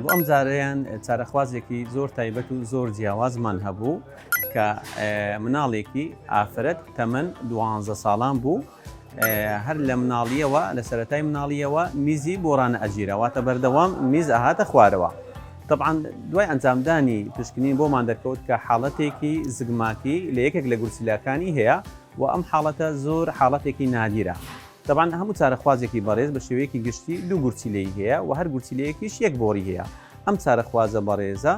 بۆ ئەم جارەیان چارەخوازێکی زۆر تایبەت و زۆر جیاوازمان هەبوو کە مناڵێکی ئافرەت تەمەەن دوانزە ساڵان بوو هەر لە مناڵیەوە لە سەتای مناڵیەوە میزی بۆرانە ئەگیرەوەتە بەردەوام میز ئەهاتە خوارەوە طبعاان دوای ئەنجامدانی پشکنین بۆمان دەکەوت کە حاڵەتێکی زگماکی لە یەکێک لە گورسیلاکانی هەیە و ئەم حاڵەتە زۆر حاڵەتێکی نادیرە تەبعەن هەموو چارەخوازێکی بەڕێز بە شێوەیەکی گشتی دوو گورچیلەی هەیە و هەر گورچیلەیەکیش یەک بۆڕی هەیە. ئەم چارەخوازە بەڕێزە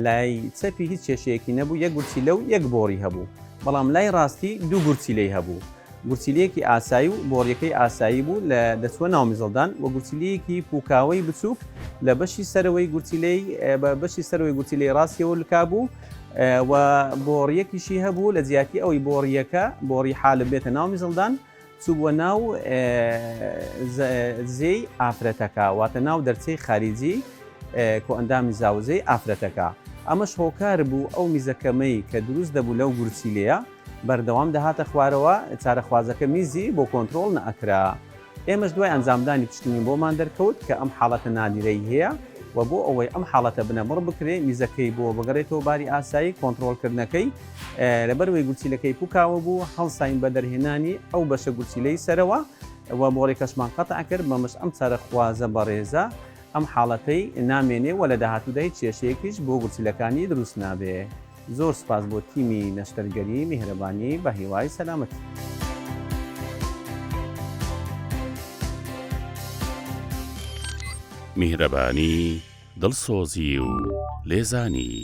لای چەپی هیچ کێشەیەکی نەبوو، یەک گورچیلە و یەک بۆڕی هەبوو. بەڵام لای ڕاستی دوو گورچیلەی هەبوو. گورچیلەیەکی ئاسایی و بۆڕیەکەی ئاسایی بوو لە دەچووە ناو میزەڵدان و گورچیلەیەکی پووکاوەی بچووک لە بەشی سەرەوەی گورچیلەی بە بەشی سەرەوەی گورچیلەی ڕاستیەوە لکابوو و بۆڕیەکیشی هەبوو لە جیاتی ئەوەی بۆڕیەکە بۆڕی حالب بێتە ناو میزەڵدان چووبووە ناو زێی ئافرەتەکە، واتە ناو دەرچەی خاریجی کۆئەندامی زاوزێی ئافرەتەکە، ئەمەش هۆکار بوو ئەو میزە کەمەی کە دروست دەبوو لەو گورچیلەیە بەردەوام دەهاتە خوارەوە، چارەخوازەکە میزی بۆ کۆنترۆڵ نەئەکرا. ئێمەش دوای ئەنجامدانی پشکنین بۆمان دەرکەوت کە ئەم حاڵەتە نادیرەی هەیە و بۆ ئەوەی ئەم حاڵەتە بنەبڕ بکرێت میزەکەی بۆ بگەڕێتەوە باری ئاسایی کۆنترۆڵکردنەکەی، لەبەرئەوەی گورچیلەکەی پوکاوە بوو، هەڵساین بە دەرهێنانی ئەو بەشە گورچیلەی سەرەوە و مۆڕیکەشمان قەتع کرد، بەمەش ئەم چارەخوازە بەڕێزە ئەم حاڵەتەی نامێنێ و لە داهاتوودا هیچ کێشەیەکیش بۆ گورچیلەکانی دروست نابێ. زۆر سوپاس بۆ تیمی نەشتەرگەری میهرەبانی، بەهیوای سەلامەتی. میهرەبانی، دڵسۆزی و لێزانی.